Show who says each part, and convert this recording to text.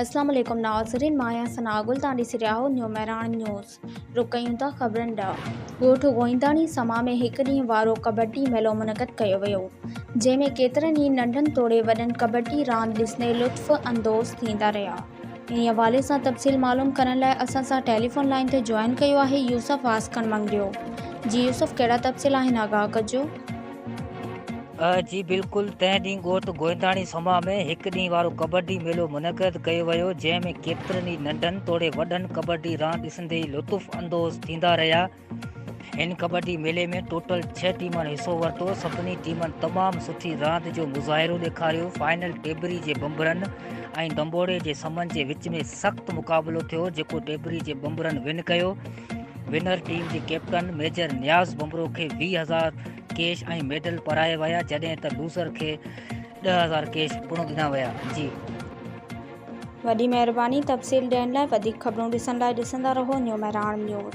Speaker 1: اسلام عليڪم
Speaker 2: ناظرين مان آهيان ثناء گل توهان ڏسي رهيا آهيو نيو مهراڻ نيوز رخ ڪيون ٿا خبرن ڏانهن ڳوٺ گوئينداڻي سما ۾ هڪ ڏينهن وارو ڪٻٽي ميلو منعقد ڪيو ويو جنهن ۾ ڪيترن ئي ننڍن توڙي وڏن ڪٻٽي راند ڏسندي لطف اندوز ٿيندا رهيا انهي حوالي سان تفصيل معلوم ڪرڻ لاء اسان سان ٽيليفون لائين تي جوائن ڪيو آهي يوسف واسڪڻ منگريو جي يوسف ڪهڙا تفصيل آهن آگاهه ڪجو.
Speaker 3: جي بلڪل، تنهن ڏينهن ڳوٺ گوئنداڻي سما ۾ هڪ ڏينهن وارو ڪٻڊي ميلو منعقد ڪيو ويو، جنهن ۾ ڪيترن ئي ننڍن توڙي وڏن ڪٻڊي راند ڏسندي ئي لطف اندوز ٿيندا رهيا. هن ڪٻڊي ميلي ۾ ٽوٽل ڇهه ٽيمن حصو ورتو، سڀني ٽيمن تمام سٺي راند جو مظاهرو ڏيکاريو، فائنل ٽيٻري جي ٻنبرن ۽ ڏنبوڙي جي سمن جي وچ ۾ سخت مقابلو ٿيو، جيڪو ٽيٻري جي ٻنبرن ون ڪيو. ونر ٽيم جي ڪيپٽن ميجر نياز بمرو کي ويهه هزار ڪيش ۽ ميڊل پرائي ويا جڏهن ته لوزر کي ڏهه هزار ڪيش پڻ ڏنا ويا جي
Speaker 2: وڏي مهرباني تفصيل ڏيڻ لاء وڌيڪ خبرون ڏسڻ لاء ڏسندا رهو نيو مهراڻ نيوز.